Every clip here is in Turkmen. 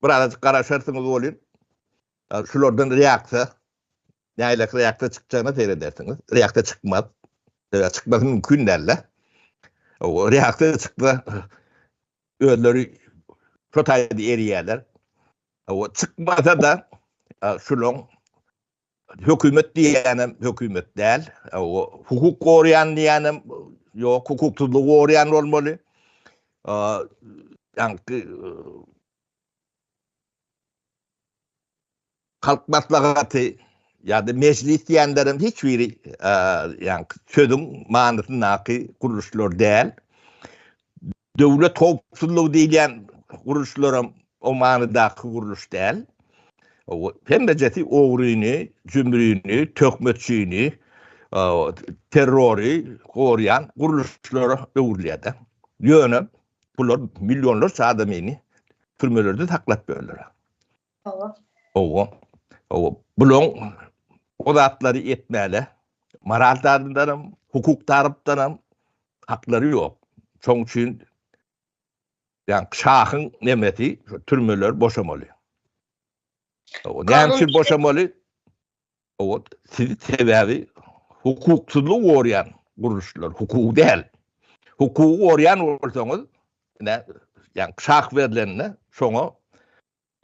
bir azajyk garaşarsyňyz bolýun. Şulardan reaksiýa, nälelik reaksiýa çykjagyna seýredersiňiz. Reaksiýa çykmaz. Reaksiýa çykmasy mümkin däl-de. Reaksiýa çyksa, özleri şu taýda erýärler. Çykmasa-da, şulaň Hökümet diýýänem hökümet däl. Hukuk goraýan diýýänem ýok, hukuksyzlygy goraýan bolmaly. Ýaňky halk maslahaty ýa-da mejlis diýenlerem hiç biri ýaňky sözüň manysyndaky gurluşlar däl. Döwlet howpsuzlygy diýilýän gurluşlaram o manydaky gurluş däl. Hemmejesi ogryny, jümrini, töhmetçini, terrory gorýan gurluşlara öwrülýär-de. Ýöne bular millionlarça adamyny türmelerde saklap ýörler. Hawa. Hawa. Hawa. Bulaň o zatlary etmäle. Moral tarapdan hem, hukuk tarapdan hem haklary ýok. Şoň üçin ýa şahyň nemesi şu türmeler boşamaly. Hawa. Näme üçin boşamaly? Hawa. Sebäbi hukuksyzlygy gorýän gurluşlar, hukuk däl. Hukugy gorýän bolsaňyz, ine, ýa şah berlende şoňa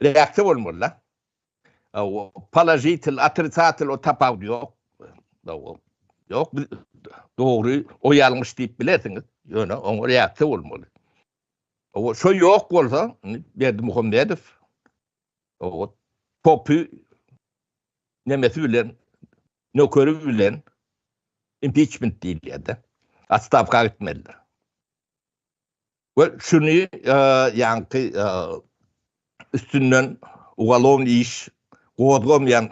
Reaksiýa bolmaly-da. Položitel, otrisatel o tapawudy ýok. Ýok, biz dogry, o ýalňyş diýip bilersiňiz, ýöne oňa reaksiýa bolmaly. Şo ýok bolsa, Berdimuhamedow topy nemesi bilen, nökeri bilen impiçment diýilýär-de, otstawka gitmelidir. We şuny ýaňky üstünden ugalon iş gozgamaýan